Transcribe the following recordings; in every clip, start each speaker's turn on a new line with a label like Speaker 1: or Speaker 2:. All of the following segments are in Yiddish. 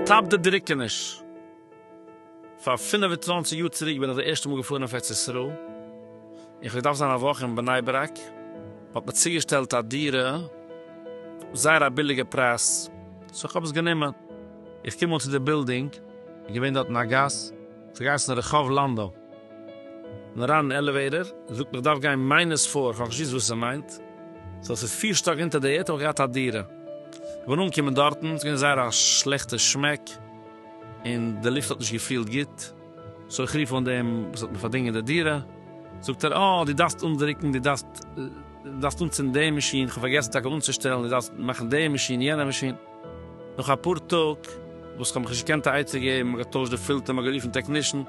Speaker 1: סטאפ די דריקעניש! פאר פֿינף און צוואַנציק יאר צוריק בין איך די ערשטע מאל געפארן אויף ארץ ישראל, און כ'וועל דארפן זיין א וואך אין בני ברק, מ'האט מיר צוגעשטעלט א דירה, זייער א ביליגע פרייז, סאו כ'האב עס גענומען. איך קום אן צו די בילדינג, איז געווען דארט אין א גאס, ס'האט געהייסן רחוב לאנדא, כ'בין אריין אין עלעוועיטער, זאגט מען כ'דארף גיין מיינוס פֿיר, כ'האב נישט געוואוסט וואס ס'מיינט, סאו ס'איז פֿיר שטאק אונטער די ערד האב איך געהאט א דירה, כ'בין אנגעקומען דארטן, ס'איז געווען זייער א שלעכטע שמעק, און די לופט האט נישט געפילט גוט, סאו איך רוף אן דעם וואס האט מיר פארדינגען די דירה, זאגט ער אה דו דארפסט אנדרוקן, דו דארפסט אנצינדן די מאשין, כ'האב פארגעסן טאקע אנצושטעלן, דו דארפסט מאכן די מאשין, יענע מאשין. נאך אפאר טאג וואס כ'האב מיך נישט געקענט א עצה געבן, מ'האט געטוישט די פילטער, מ'האט גערופן טעקנישן,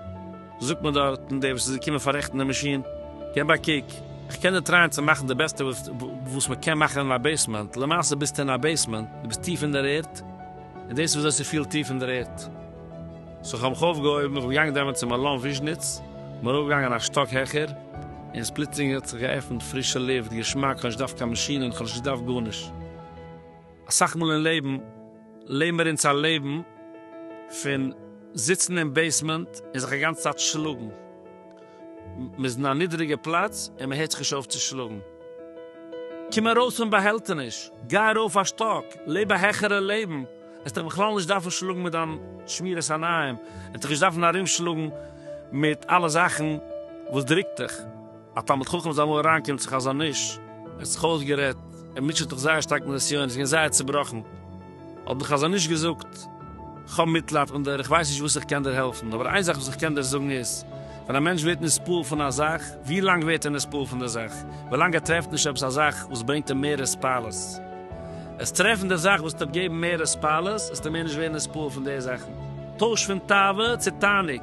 Speaker 1: זאגט מיר דארטן דער וואס איז געקומען פאררעכטן די מאשין, געב א קוק, כ'קען דיר טרייען צו מאכן די בעסטע וואס מ'קען מאכן אין א בעיסמענט, למעשה ביסטו אין א בעיסמענט, דו ביסט טיף אין דער ערד, און דאס איז וויאזוי ס'פילט טיף אין דער ערד. סאו כ'האב מיך אויפגעהויבן, איך בין געגאנגען דעמאלט צו מלון וויזשניץ, כ'בין ארויפגעגאנגען א שטאק העכער, און עס פלוצלינג האט זיך געעפנט פרישע לופט, געשמאק, כ'האב נישט געדארפט קיין מאשינען, כ'האב נישט געדארפט גארנישט. אסאך מאל אין לעבן לעבן מיר אונז א לעבן פון זיצן אין בעיסמענט און זיך א גאנצע צייט שלאגן, מען איז אין א נידריגע פלאץ און מען הערט זיך נישט אויף צו שלאגן. קום ארויס פון באהעלטעניש, גיי ארויף א שטאק, לעב א העכערע לעבן, עסט דיך בכלל נישט דארפן שלאגן מיט דיין שמירת עיניים, עסט דיך נישט דארפן ארום שלאגן מיט אלע זאכן וואס דרוקט דיך. א תלמיד חכם איז אמאל אריין קומט זיך א זאן איש ער האט זיך אויסגערעדט ער מוטשעט זיך זייער שטארק מיט נסיון ער איז געווען זייער צובראכן האט די חזון איש געזאגט איך האב מיטלייד און דיר איך ווייס נישט וואס איך קען דיר העלפן אבער איין זאך וואס איך קען דיר זאגן איז ווען א מענטש ווערט נספעל פון א זאך ווי לאנג ווערט ער נספעל פון די זאך ווי לאנג ער טרעפט נישט עפעס א זאך וואס ברענגט אים מער הספלות עס טרעפן די זאך וואס טוט געבן מער הספלות עסטו מער נישט ווערן נספעל פון די זאכן טויש פון תאווה צו תענוג.